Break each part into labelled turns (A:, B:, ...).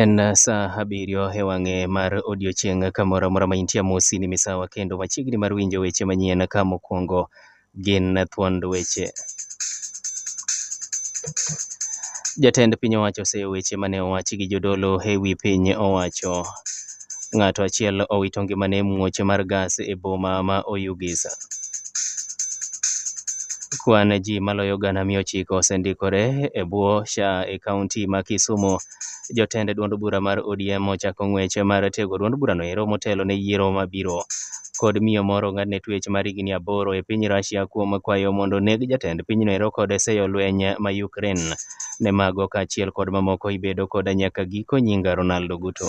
A: En sa abiriyo e wang'e mar odiechieng' kamoro amora ma intie amosi ni misawa kendo machiegni mar winjo weche manyien ka mokwongo gin thuond weche. Jatend piny owacho oseyo weche mane owachi gi jodolo e wi piny owacho. Ng'ato achiel owito ngimane e muoche mar gas e boma ma Oyugisa. Kwan ji maloyo gana mia ochiko osendikore e bwo SHA e kaunti ma Kisumo. Jotend duond bura mar ODM ochako ng'wech mar tego duond burano ero motelo ne yiero mabiro. kod miyo moro ong'adne twech mar higni aboro e piny Russia kuom kwayo mondo oneg jatend pinyno ero kod seyo lweny ma Ukraine. Ne mago kaachiel kod mamoko ibedo koda nyaka giko nyinga Ronaldo Guto.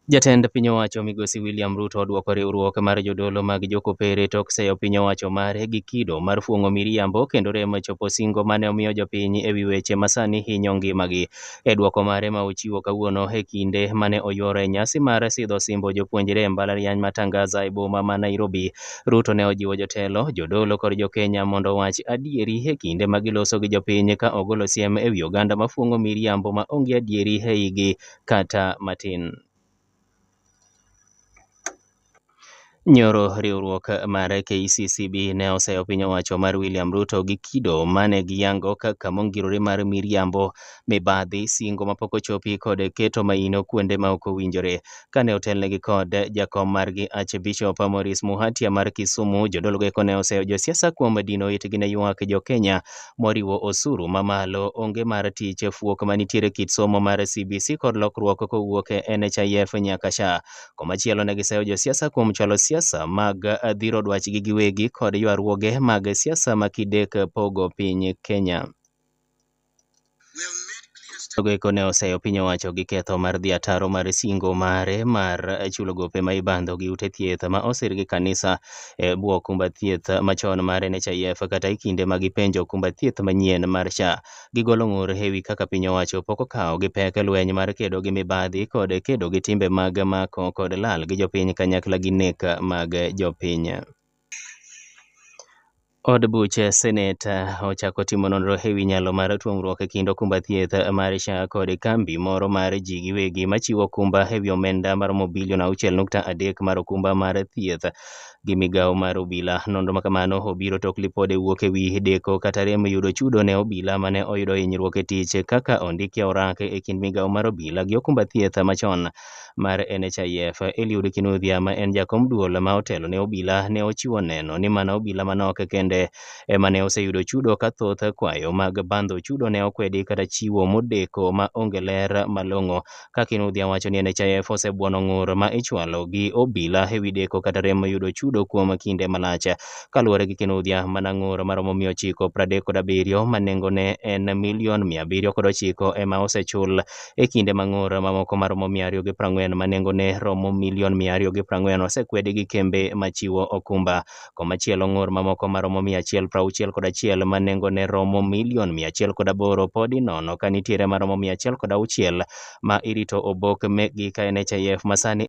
A: Jatend piny owacho migosi William Ruto odwoko riwruok mar jodolo mag jokopere tok seyo piny owacho mare gi kido mar fuong'o miriambo kendo rem chopo singo mane omiyo jopiny ewi weche masani hinyo ngimagi. e dwoko mare ma ochiwo kawuono e kinde mane oyuoro e nyasi mar sidho osimbo jopuonjre e mbalariany ma Tangaza e boma ma Nairobi. Ruto ne ojiwo jotelo, jodolo kod jokenya mondo owach adieri e kinde ma giloso gi jopiny ka ogolo siem ewi oganda mafuong'o miriambo ma onge adieri eigi kata matin. Nyoro riwruok mar KCCB ne oseyo piny owacho mar William Ruto gi kido mane giyango kaka mongirore mar miriambo, mibadhi, singo mapok ochopi kod keto maino kuonde ma ok owinjore. Kane otelnegi kod jakom margi Archbishop Maurice Muhatia mar Kisumu, jodolo go eko ne oseyo josiasa kuom dino itgi ne ywak jo Kenya moriwo osuru mamalo, onge mar tich, fuok manitiere kit somo mar CBC kod lokruok kowuok e NHIF nyaka SHA. Komachielo ne giseyo josiasa kuom chwalo siasa mag dhiro dwachgi giwegi kod ywaruoge mag siasa ma kidek pogo piny Kenya. Jogo eko ne oseyo piny owacho gi ketho mar dhi ataro mar singo mare mar chulo gope ma ibandho gi ute thieth ma osir gi kanisa e bwo okumba thieth machon mar NHIF kata e kinde ma gipenjo okumba thieth manyien mar SHA. Gigolo ng'ur e wi kaka piny owacho pok okawo gi pek lweny mar kedo gi mibadhi kod kedo gi timbe mag mako kod lal gi jopiny kanyakla gi nek mag jopiny. Od buch senet ochako timo nonro e wi nyalo mar tuongruok e kind okumba thieth mar SHA kod kambi moro mar ji giwegi machiwo okumba e wi omenda maromo bilion 6.3 mar okumba mar thieth gi migawo mar obila. Nonro makamano obiro tok lipod e wuok e wi deko kata rem yudo chudo ne obila mane oyudo hinyruok e tich kaka ondiki e orak e kind migawo mar obila gi okumba thieth machon mar NHIF, Eliud Kinuthia ma en jakom duol ma otelo ne obila ne ochiwo neno ni mana obila manok kende ema ne oseyudo chudo ka thoth kwayo mag bandho chudo ne okwedi kata chiwo modeko ma onge ler malong'o ka Kinuthia wacho ni NHIF osebuono ng'ur ma ichwalo gi obila ewi deko kata rem yudo chudo kuom kinde malach. Kaluwore gi Kinuthia, mana ng'ur maromo mia ochiko pradek kod abiriyo ma nengone en milion mia abiriyo kod ochiko ema osechul E kinde ma ng'ur mamoko ma romo mia ariyo gi prang'wen ma nengone romo milion mia ariyo gi prang'wen osekwedi gi kembe ma chiwo okumba, komachielo ng'ur mamoko ma romo mia achiel prauchiel kod achiel ma nengone romo milion mia achiel kod aboro pod inono ka nitiere ma romo mia achiel kod auchiel ma irito obok mekgi ka NHIF ma sani